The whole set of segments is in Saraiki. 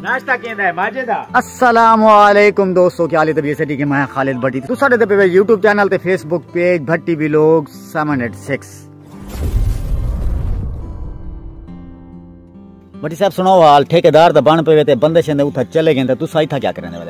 ناشتہ کیندا ہے ماجے دا السلام علیکم دوستو کیا حال ہے طبیعت سٹی کے میں خالد بھٹی تو ساڈے تے پے یوٹیوب چینل تے فیس بک پیج بھٹی بھی لوگ 786 بھٹی صاحب سناؤ حال ٹھیکیدار دا بن پے تے بندے شندے اوتھا چلے گئے تے تسا ایتھا کیا کرنے والے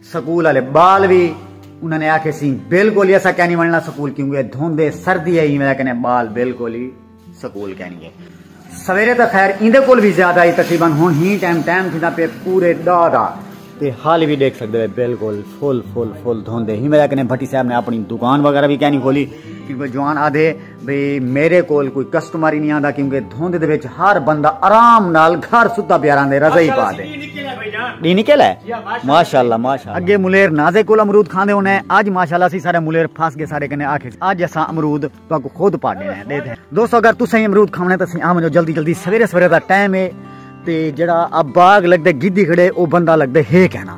سکول والے بال وی انہاں نے آکھے سی بالکل ہی اسا کینی وننا سکول کیونکہ دھوندے سردی ہے ایویں کنے بال بالکل ہی سکول کینی گئے سویرے تو خیر ایندے کول بھی زیادہ ہی تقریبا ہن ہی ٹائم ٹائم تھیندا پے پورے دا دا تے حال بھی دیکھ سکدے بالکل فل فل فل دھوندے ہی میرا کنے بھٹی صاحب نے اپنی دکان وغیرہ بھی کینی کھولی کیونکہ جوان آدھے بھئی میرے کول کوئی کسٹمر ہی نہیں آندا کیونکہ دھوند دے وچ ہر بندہ آرام نال گھر ستا پیا رہندے رضائی پا دے ڈی نکل ہے ماشاءاللہ ماشاءاللہ اگے ملیر نازے کول امرود کھاندے ہونے اج ماشاءاللہ سی سارے ملیر پھس گئے سارے کنے آکھے اج اسا امرود تو کو خود پاڑے ہیں دے دے دوستو اگر تساں امرود کھاونے تے سی آ منجو جلدی جلدی سویرے سویرے دا ٹائم ہے تے جڑا اب باغ لگدے گدی کھڑے او بندہ لگدے ہے کہنا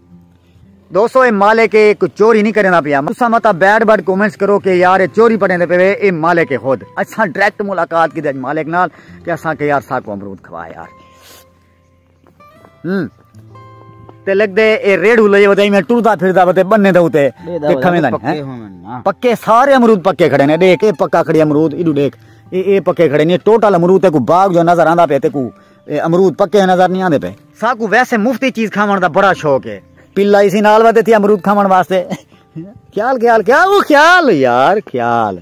دوستو اے مالک اے کو چوری نہیں کرنا پیا تسا متا بیڈ بیڈ کومنٹس کرو کہ یار اے چوری پڑھیں دے پے اے مالک اے خود اساں ڈائریکٹ ملاقات کی دے مالک نال کہ اساں کہ یار ساکو امرود کھوا یار ہم تے لگ دے اے ریڈ ہو لئے ودے میں ٹردا پھردا ودے بننے دے تے کھویں دن پکے سارے امرود پکے کھڑے نے دیکھ اے پکا کھڑی امرود ایڈو دیکھ اے اے پکے کھڑے نے ٹوٹل امرود تے کو باغ جو نظر آندا پے تے کو اے امرود پکے ہیں نظر نی آندے پئے۔ ساکوں ویسے مفتی چیز کھاوݨ دا بڑا شوق ہے۔ پلا ایسی نال ودے تھی امرود کھاوݨ واسطے۔ خیال خیال کیا او خیال یار خیال۔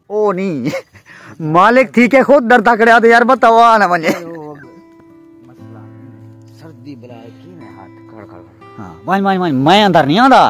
او نی مالک تھی کے خود ڈر تکڑے آتے یار بتا او آنا منجے۔ وائن وائن وائن میں اندر نی آندا۔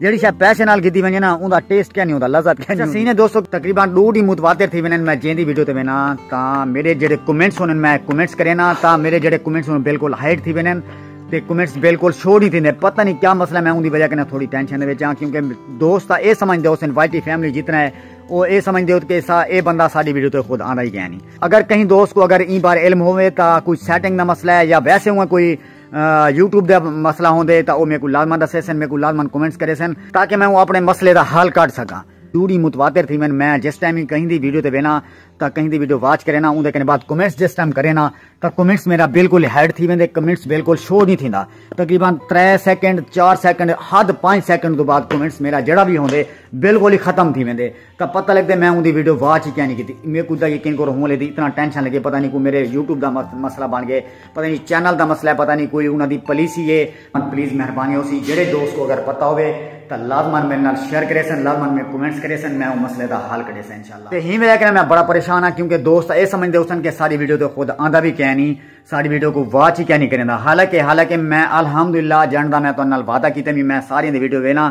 جیڑی شے پیسے نال گھدی ونجے نا اوندا ٹیسٹ کیا نہیں ہوندا لذت کیا نہیں سینے دوستو تقریبا دو ڈی متواتر تھی ونن میں جیندی ویڈیو تے وینا تا میرے جڑے کمنٹس ہونن میں کمنٹس کرینا تا میرے جڑے کمنٹس ہونن بالکل ہائیڈ تھی ونن تے کمنٹس بالکل شو نہیں تھیندے پتہ نہیں کیا مسئلہ میں اوندی وجہ کنا تھوڑی ٹینشن دے وچ ہاں کیونکہ دوست اے سمجھ دے حسین وائی ٹی فیملی جتنا ہے او اے سمجھ دے کہ سا اے بندہ ساڈی ویڈیو تے خود آندا ہی گیا نہیں اگر کہیں دوست کو اگر این بار علم ہوے تا کوئی سیٹنگ دا مسئلہ ہے یا ویسے ہوں کوئی یوٹیوب دا مسئلہ ہوندے تاں او میکوں لازمن دسیسن میکوں لازمن کمنٹس کریسن تاکہ میں اپنے مسئلے دا حل کڈھ سکاں دوری متواتر تھی ون میں جس ٹائم ہی کہیں دی ویڈیو تے وینا تا کہیں دی ویڈیو واچ کرینا اون دے کنے بعد کمنٹس جس ٹائم کرینا تا کمنٹس میرا بالکل ہیڈ تھی ویندے کمنٹس بالکل شو نہیں تھیندا تقریبا 3 سیکنڈ 4 سیکنڈ حد 5 سیکنڈ دو بعد کمنٹس میرا جڑا بھی ہوندے بالکل ہی ختم تھی ویندے تا پتہ لگدے میں اوندی ویڈیو واچ ہی کینی کیتی میکو دا یقین کرو ہوں لیدی اتنا ٹینشن لگے پتہ نہیں کوئی میرے یوٹیوب دا مسئلہ بن گئے پتہ نہیں چینل دا مسئلہ ہے پتہ نہیں کوئی انہاں دی پالیسی ہے پلیز مہربانی ہو سی جڑے دوست کو اگر پتہ ہوے تا لازمن میرے نال شیئر کرے سن لازمن میں کمنٹس کرے سن میں او مسئلے دا حل کڈے سن انشاءاللہ تے ہی وجہ کنا میں بڑا پریشان ہاں کیونکہ دوست اے سمجھ دے ہوسن کہ ساری ویڈیو تے خود آندا بھی کہہ نہیں ساری ویڈیو کو واچ ہی کہہ نہیں کریندا حالانکہ حالانکہ میں الحمدللہ جاندا میں تو نال وعدہ کیتے بھی میں ساری دی ویڈیو وینا